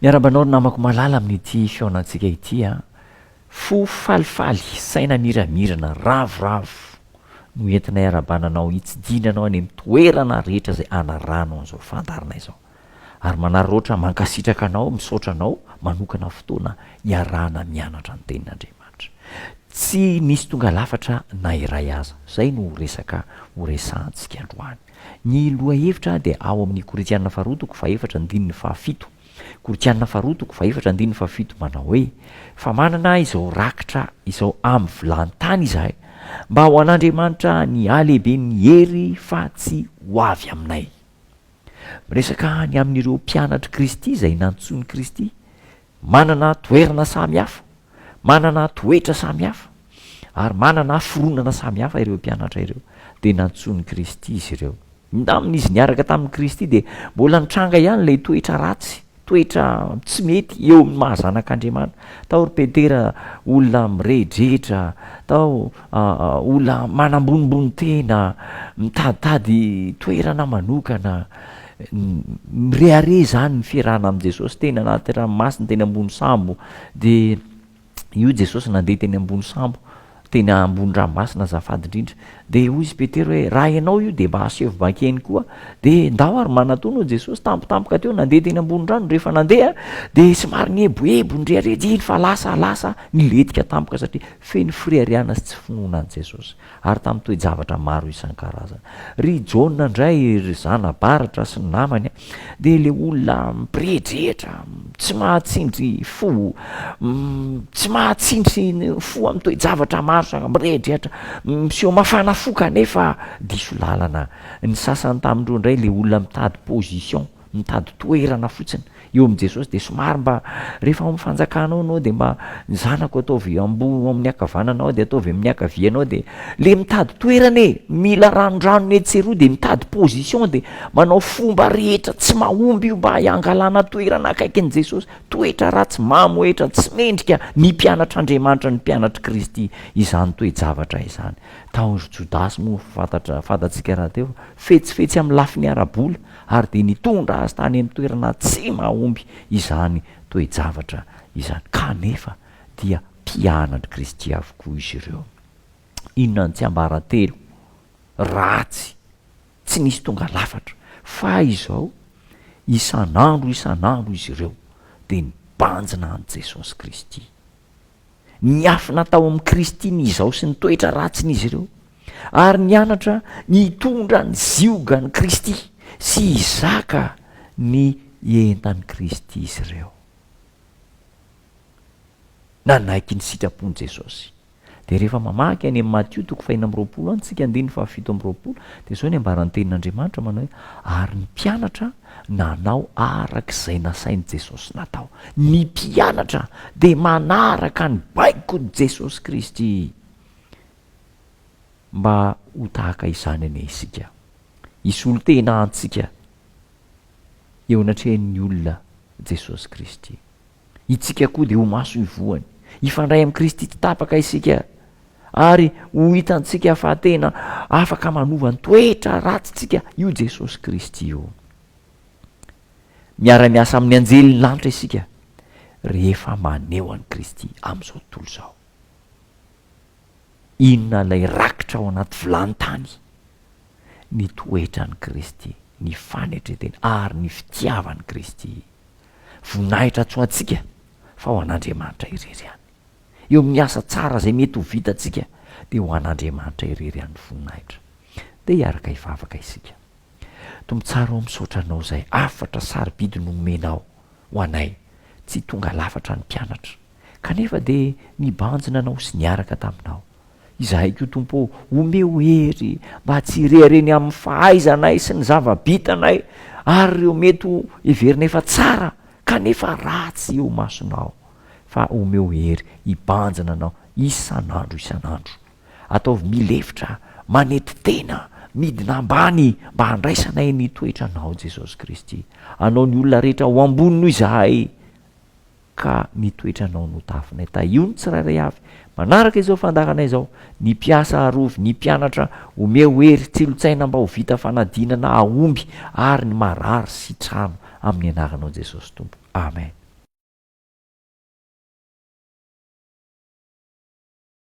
Miarahaba anao ry namako malala amin'ity fihaonantsika ity a! Fo falifaly, saina miramirana, ravoravo no entinay arabana anao hitsidihina anao any amin'ny toerana rehetra izay anarahanao an'izao fandaharanay izao. Ary manararaotra mankasitraka anao, misaotra anao manokana fotoana iarahana mianatra ny Tenin'Andriamanitra. Tsy nisy tonga lafatra na iray aza. Izay no resaka horesahantsika androany. Ny lohahevitra dia ao amin' ny Korintiana Faharoa toko fahefatra andininy fahafito. Korintiana Faharoa toko fahefatra andininy fahafito manao hoe, Fa manana izao rakitra izao amin' ny vilàn-tany izahay, mba ho an' Andriamanitra ny halehiben' ny hery fa tsy ho avy aminay. Miresaka ny amin' ireo mpianatr' i Kristy izay nantsoin' i Kristy Manana toerana samy hafa, manana toetra samy hafa, ary manana haforonana samy hafa ireo mpianatra ireo, dia nantsoin'i Kristy izy ireo. Indamin' izy niaraka tamin'i Kristy dia mbola nitranga ihany ilay toetra ratsy, toetra tsy mety eo amin'ny maha zanak' Andriamanitra. Tao ry Petera olona mirehidrehitra, tao olona manambonimbony tena, mitaditady toerana manokana. Mirehareha izany ny fiarahana amin'i Jesosy teny anaty ranomasina, teny ambony sambo. Dia io Jesosy nandeha teny ambony sambo, teny ambony ranomasina azafady indrindra. Dia hoy izy Petera hoe, raha ianao io dia mba aseho vakeny koa. Dia ndao ary manatòna hoy Jesosy, tampotampoka teo nandeha teny ambony rano. Rehefa nandeha dia somary nieboebo, nirehareha, dia iny fa lasa, lasa, nilentika tampoka satria feno fireharehana sy tsy finoana an'i Jesosy. ary tamin'ny toe-javatra maro isan-karazany. Ry Jaona indray, ry zana-baratra sy ny namany, dia ilay olona mpirehitrehitra, tsy mahatsindry fo, tsy mahatsindry fo amin'ny toe-javatra maro samy mirehidrehitra, miseho mafana fo kanefa diso lalana. Ny sasany tamin'ireo indray ilay olona mitady position, Mitady toerana fotsiny eo amin'i Jesosy dia somary mba rehefa ao amin'ny fanjakanao ianao dia mba ny zanako ataovy amboho ao amin'ny ankavananao dia ataovy amin'ny ankavianao dia le mitady toerana e! Mila ranondranony etsy sy eroa dia mitady position dia manao fomba rehetra tsy mahomby io mba hangalana toerana akaikin'i Jesosy. Toetra ratsy mamohehitra tsy mendrika ny mpianatr'Andriamanitra ny mpianatr'i Kristy izany toe-javatra izany. Tao ry Jodasy moa fantatra fantatsika rahateo fa fetsifetsy amin'ny lafiny ara-bola ary dia nitondra azy tany amin'ny toerana tsy mahomby izany toe-javatra izany. Kanefa dia mpianatr'i Kristy avokoa izy ireo. Inona no tsiambaratelo ratsy tsy nisy tonga lafatra? Fay izao, isan'andro isan'andro izy ireo dia nibanjina an'i Jesosy Kristy. niafina tao amin'i Kristy ny izaho sy ny toetra ratsin'izy ireo, ary nianatra nitondra ny ziogan'i Kristy sy hizaka ny entan'i Kristy izy ireo. Nanaiky ny sitrapon'i Jesosy. Dia rehefa mamaky any amin'ny Matio toko fahina amby roapolo any isika andininy fahafito amby roapolo, dia izao ny ambarantenin'Andriamanitra manao hoe, ary ny mpianatra Nanao araka izay nasain'i Jesosy natao. Ny mpianatra dia manaraka ny baikon'i Jesosy Kristy. Mba ho tahaka izany anie isika. Hisolo tena antsika eo anatrehan'ny olona Jesosy Kristy. Itsika koa dia ho maso ny voany. Hifandray amin'i Kristy tsy tapaka isika ary ho hitantsika fa tena afaka manova ny toetra ratsintsika io Jesosy Kristy io. Miara-miasa amin'ny anjelin'ny lanitra isika rehefa maneho an'i Kristy amin'izao tontolo izao. Inona ilay rakitra ao anaty vilany tany? Ny toetran'i Kristy, ny fanetren-teny, ary ny fitiavan'i Kristy. Voninahitra tsy ho antsika, fa ho an'Andriamanitra irery ihany. Eo amin'ny asa tsara izay mety ho vitantsika, dia ho an'Andriamanitra irery ihany ny voninahitra. Dia hiaraka hivavaka isika. Tompo tsara ô, misaotra Anao izay hafatra sarobidy nomenao Ho anay, tsy tonga lafatra ny mpianatra, kanefa dia nibanjina anao sy niaraka taminao. Izahay koa, Tompo ô, omeo hery mba tsy hireha reny amin'ny fahaizanay sy ny zava-bitanay ary ireo mety ho heverina efa tsara kanefa ratsy eo masonao, fa omeo hery hibanjina anao isan'andro isan'andro. Ataovy milefitra, manety tena, midina ambany mba handraisanay ny toetra Anao, Jesosy Kristy. Anao ny olona rehetra ho ambony noho izahay, ka ny toetra Anao no tafinay. Tahio ny tsirairay avy manaraka izao fandaharana izao, ny mpiasa arovy, ny mpianatra omeo hery, tsilo-tsaina mba ho vita fanadinana hahomby, ary ny marary sitrano amin'ny Anaranao Jesosy Tompo. Amen.